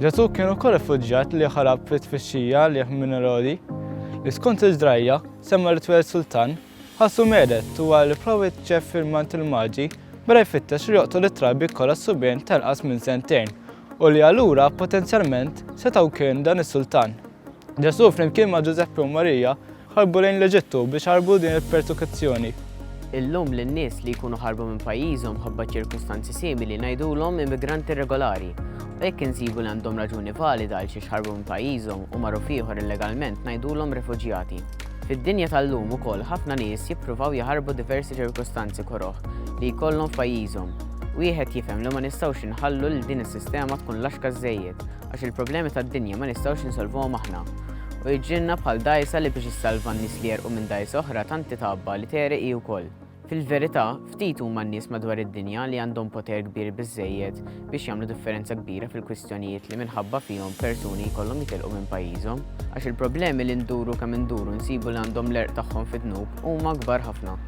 Ġesu kien ukoll rifuġġjat li ħarab fit tfixxija li minn Erodi, li skont il-ġrajja semma li tweled sultan, ħassu medet u għal provi ċef fil-mant il-maġi bera jfittex li joqtol it-trabi kollha subien tal-qas minn sentejn u li allura potenzjalment setgħu kien dan is-sultan. Ġesu flimkien ma' Ġużeppi u Marija Ħarbu lejn l-Eġittu biex iħarbu din il-persukizzjoni. Illum lin-nies li jkunu ħarbu minn pajjiżhom mħabba ċirkustanzi simili ngħidulhom immigranti irregolari. U jekk insibu li għandhom raġuni valida għal xiex ħarbu minn pajjiżhom u marru f'ieħor illegalment ngħidulhom refuġjati. Fid-dinja tal-lum ukoll ħafna nies jippruvaw jaħarbu diversi ċirkustanzi koroh li jkollhom f'pajjiżhom. Wieħed jifhem li ma nistgħux inħallu lil din is-sistema tkun laxka żżejjed Għax il-problemi tad-dinja ma nistgħux insolvuhom aħna. U jġienna bħal dgħajsa li biex issalva n-nies li għerqu minn dgħajsa oħra tant titgħabba li tegħreq hi wkoll. Fil-verità, ftit huma n-nies madwar id-dinja li għandhom poter kbir biżżejjed biex jagħmlu differenza kbira fil-kwistjonijiet li minħabba fihom persuni jkollhom jitilqu minn pajjiżhom. Għax il-problemi li nduru kemm induru nsibu li għandhom l-għerq tagħhom fid-dnub huma kbar ħafna.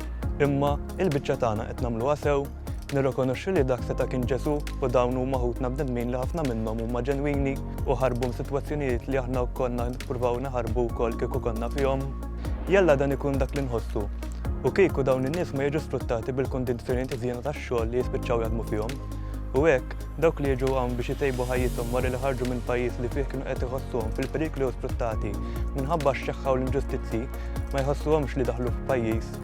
Imma, il-biċċa tagħna qed nagħmluha sew? Nirrikonoxxu li dak seta' kien Ġesù u dawn huma ħutna bnedmin li ħafna minnhom huma ġenwini u ħarbu msitwazzjonijiet li aħna konna nippruvaw naħarbu wkoll kieku konna fihom. Jalla dan ikun dak li nħossu. U kieku dawn in-nies ma jiġu sfruttati bil-kundizzjonijiet iżjena tax-xogħol li jispiċċaw jaħdmu fihom. U hekk, dawk li jiġu hawn biex itejbu ħajjithom wara li ħarġu minn pajjiż li fih kienu qed iħossuhom fil-periklu jew sfruttati minħabba x-xeħħa u l-inġustizzji, ma jħossuhomx li daħlu f'pajjiż